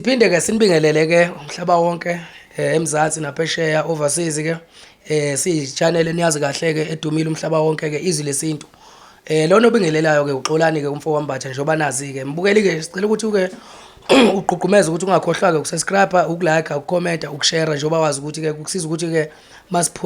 Siphinde ke sinibingelele ke umhlaba wonke eh, eMzansi naphesheya overseas ke eh siyichannel eniyazi kahle ke edumile umhlaba wonke ke izwi lesintu eh lona obingelelayo ke uxolani ke umfo wambatha njengoba nazi ke mbukeli ke sicela ukuthi uke uqhuqhumeza ukuthi ungakhohlwa ke ukusubscribe ukulike ukucomment ukushare njengoba wazi ukuthi ke kusiza ukuthi ke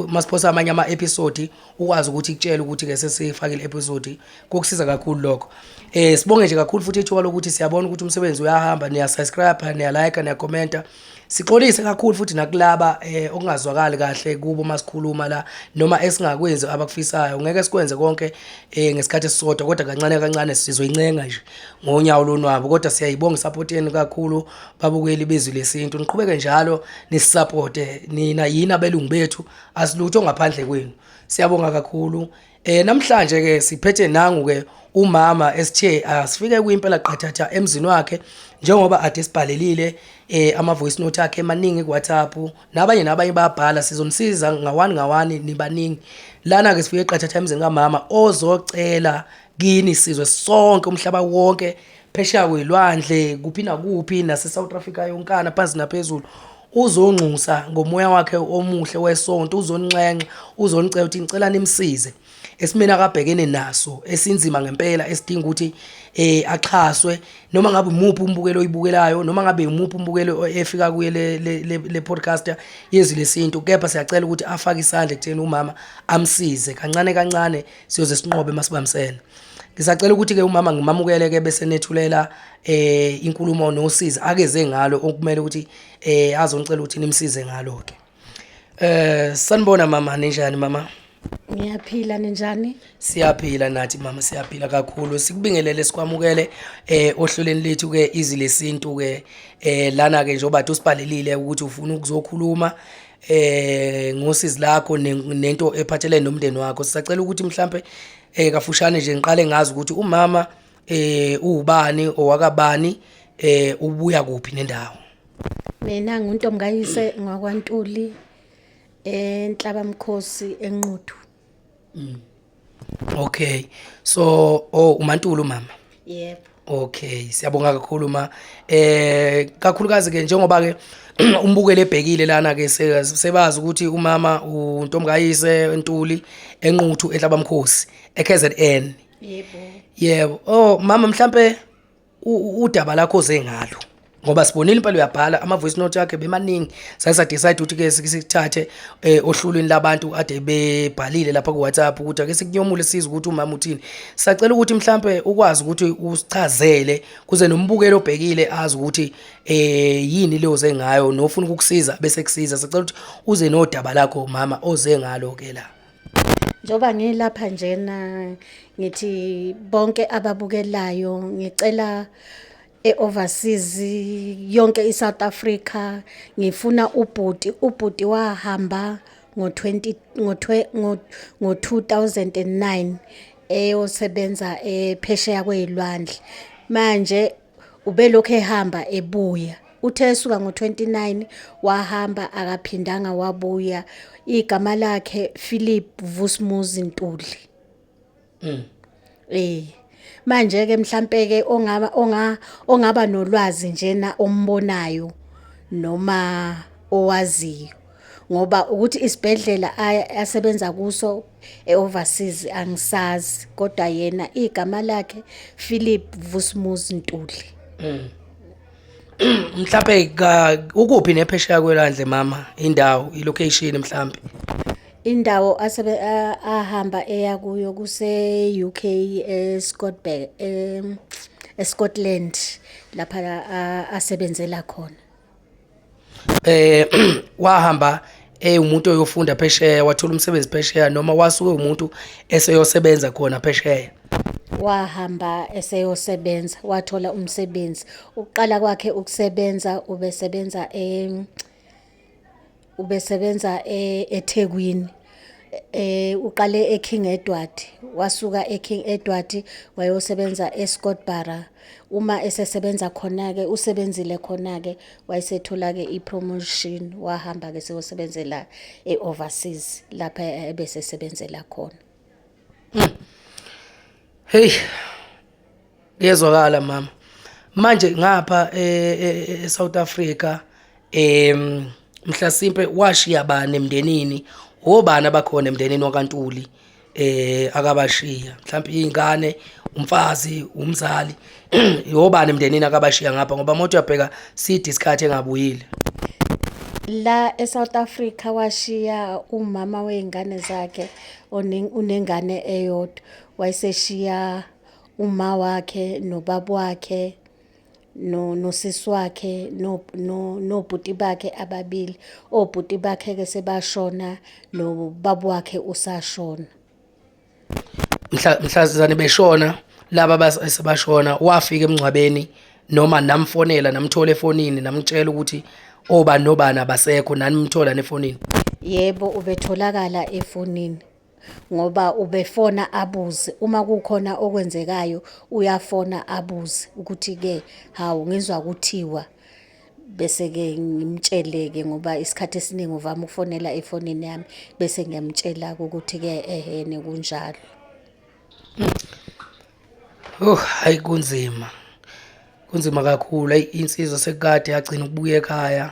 masiphosa amanye ama episode ukwazi ukuthi ikutshele ukuthi ke sesifakile episode kokusiza kakhulu lokho eh sibonge nje kakhulu futhi ithuba lokuthi siyabona ukuthi umsebenzi uyahamba niya subscribe niya like niya commenta sixolise kakhulu futhi nakulaba eh okungazwakali kahle kubo masikhuluma la noma esingakwenzi abakufisayo ngeke sikwenze konke eh ngesikhathi esisodwa kodwa kancane kancane sizoyincenga nje ngonyawo lonwabo kodwa siyayibonga support yenu kakhulu babukeli bezwi lesintu niqhubeke njalo nisupporte nina yini abelungu bethu asilutho ngaphandle kwenu siyabonga kakhulu eh namhlanje ke siphethe nangu ke umama esithe asifike kwimpela qathatha emzini wakhe njengoba ade sibhalelile eh ama voice note akhe emaningi ku WhatsApp nabanye nabanye bayabhala sizonisiza ngawani ngawani nibaningi lana ke sifike qathatha emzini kamama ozocela kini sizwe sonke umhlaba wonke phesheya kwey'lwandle kuphi nakuphi nase-south africa yonkana phansi naphezulu uzongxusa ngomoya wakhe omuhle wesonto uzoninxenxa uzonicela ukuthi ngicela nimsize esimeni akabhekene naso esinzima ngempela esidinga ukuthi eh axhaswe noma ngabe umuphi umbukelo oyibukelayo noma ngabe umuphi umbukelo efika kuye le le, le podcast yezwi lesintu kepha siyacela ukuthi afake isandla ekutheni umama amsize kancane kancane siyoze sinqobe masibambisene ngisacela ukuthi ke umama ngimamukele ke bese nethulela eh inkulumo nosizi akeze ngalo okumele ukuthi eh azonicela ukuthi nimsize ngalo ke eh sanibona mama ninjani mama Ngiyaphila ninjani? Siyaphila nathi mama siyaphila kakhulu. Sikubingelele sikwamukele eh ohlelweni lethu ke izile sintu ke eh lana ke njengoba usibhalelile ukuthi ufuna ukuzokhuluma eh ngosizi lakho nento ephathelene nomndeni wakho sisacela ukuthi mhlambe eh kafushane nje ngiqale ngazi ukuthi umama eh uwubani owakabani eh ubuya kuphi nendawo mina nguntomkayise ngwakwantuli enhlaba mkhosi enquthu Mm. Okay. So oh uMantulu mama. Yebo. Okay, siyabonga kakhulu ma. Eh kakhulukazi ke njengoba ke umbukele ebhekile lana ke sebazi ukuthi umama uNtomkayise Ntuli enquthu ehlabamkhosi eKZN. Yebo. Yebo. Oh mama mhlambe udaba lakho oze ngalo ngoba sibonile impela uyabhala ama voice note yakhe bemaningi sasa decide ukuthi ke sikuthathe eh, ohlulweni labantu ade bebhalile lapha ku WhatsApp ukuthi ake sikunyomule size ukuthi umama uthini sacela ukuthi mhlambe ukwazi ukuthi usichazele kuze nombukeli obhekile azi ukuthi eh yini leyo ze ngayo nofuna ukukusiza bese kusiza sacela ukuthi uze nodaba lakho mama oze ngalo ke la njengoba ngilapha njena ngithi bonke ababukelayo ngicela e-overseas yonke i-south africa ngifuna ubhuti ubhuti wahamba ngo-2009 eyosebenza ephesheya kwey'lwandle manje Ubelokhu ehamba ebuya. Uthe esuka ngo-29 wahamba akaphindanga wabuya. Igama lakhe Philip Vusmuzi Ntuli. Mm. Eh. Manje ke mhlambe ke ongaba onga ongaba nolwazi njena ombonayo noma owaziyo. ngoba ukuthi isibhedlela asebenza kuso e-overseas angisazi kodwa yena igama lakhe Philip Vusmus Ntuli mm. mhlambe ukuphi nephesheya kwelwandle mama indawo ilocation mhlambe indawo asebe ahamba eya kuyo kuse UK eScotland eScotland lapha asebenzela khona eh wahamba eh umuntu oyofunda phesheya wathola umsebenzi phesheya noma wasuke umuntu eseyosebenza khona phesheya wahamba eseyosebenza wathola umsebenzi ukuqala kwakhe ukusebenza ubesebenza em ubesebenza e- ethekwini eh uqale eKing Edward wasuka eKing Edward wayosebenza eScottbara uma esesebenza khona ke usebenzile khona ke wayesethola ke ipromotion wahamba ke seyosebenzela eoverseas lapha ebese sebenzela khona hmm. hey Kuyezwakala mama. Manje ngapha e, e, e South Africa em mhlasimpe washiya bani emndenini obani abakhona emndenini wakantuli eh akabashiya mhlawumbe izingane umfazi umzali yobani emndenini akabashiya ngapha ngoba mothi uyabheka sidi isikhathi engabuyile la eSouth Africa washiya umama weingane zakhe onengane eyodwa wayeseshiya uma wakhe nobaba wakhe no nosisi wakhe no nobhuti bakhe ababili obhuti bakhe ke sebashona nobaba wakhe usashona mhla mhlazizane beshona laba basebashona wafika emngcwabeni noma namfonela namthola efonini namtshela ukuthi oba nobani abasekho nanimthola nefonini yebo ubetholakala efonini ngoba ubefona abuze uma kukhona okwenzekayo uyafona abuze ukuthi-ke hawu ngizwa kuthiwa bese-ke ngimtshele-ke ngoba isikhathi esiningi uvama ukufonela efonini yami bese ngiyamtshela-ke ukuthi-ke ehene kunjalo Oh hayi kunzima. Kunzima kakhulu. Hayi insizwa sekukade yagcina ukubuya ekhaya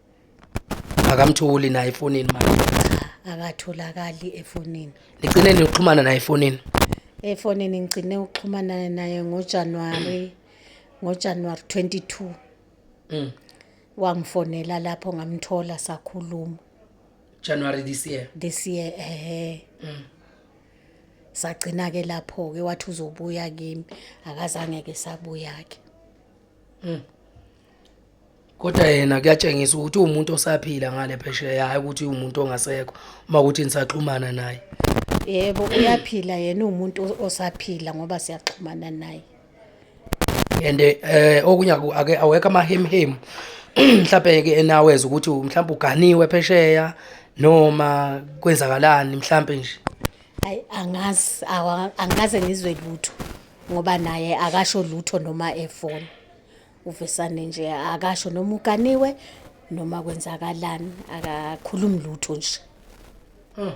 akamtholi naye efonini manje akatholakali efonini nigcine nixhumana naye efonini efonini ngigcine ukuxhumana naye ngojanuwari ngojanuwari 22 mm. wangifonela lapho ngamthola sakhuluma january this year this year ehe mm. sagcina-ke lapho-ke wathi uzobuya kimi akazange-ke sabuya-ke Mm. Kodwa yena kuyatshengisa ukuthi umuntu osaphila ngale phesheya hayi ukuthi umuntu ongasekho uma ukuthi nisaxhumana naye. Yebo uyaphila yena umuntu o- osaphila ngoba siyaxhumana naye. And eh okunye aku- ake awekho amahemhemu mhlawumbe ke enaweza ukuthi mhlawumbe uganiwe phesheya noma kwenzakalani mhlawumbe nje. Hayi angazi awa- angikaze ngizwe lutho. ngoba naye akasho lutho noma efona uvesane nje akasho noma uganiwe noma kwenzakalani akakhulumi lutho nje hmm.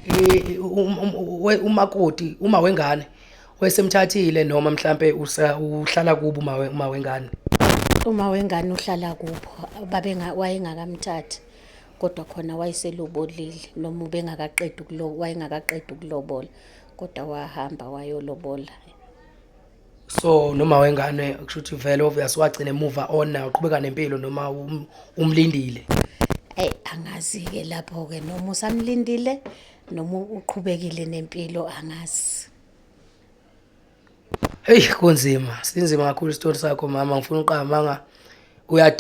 eh, um, um, um, umakoti uma wengane wesemthathile noma mhlambe uhlala kubo uma uma wengane uma wengane uhlala kubo babe wayengakamthathi kodwa khona wayeselobolile noma ubengakaqedi ukulobola wayengakaqedi ukulobola kodwa wahamba wayolobola so noma wengane kusho ukuthi vele obvious wagcina emuva on nayo uqhubeka nempilo noma um, umlindile eyi angazi-ke lapho-ke noma usamlindile noma uqhubekile nempilo angazi heyi kunzima sinzima kakhulu isitori sakho mama ngifuna uqamanga uyad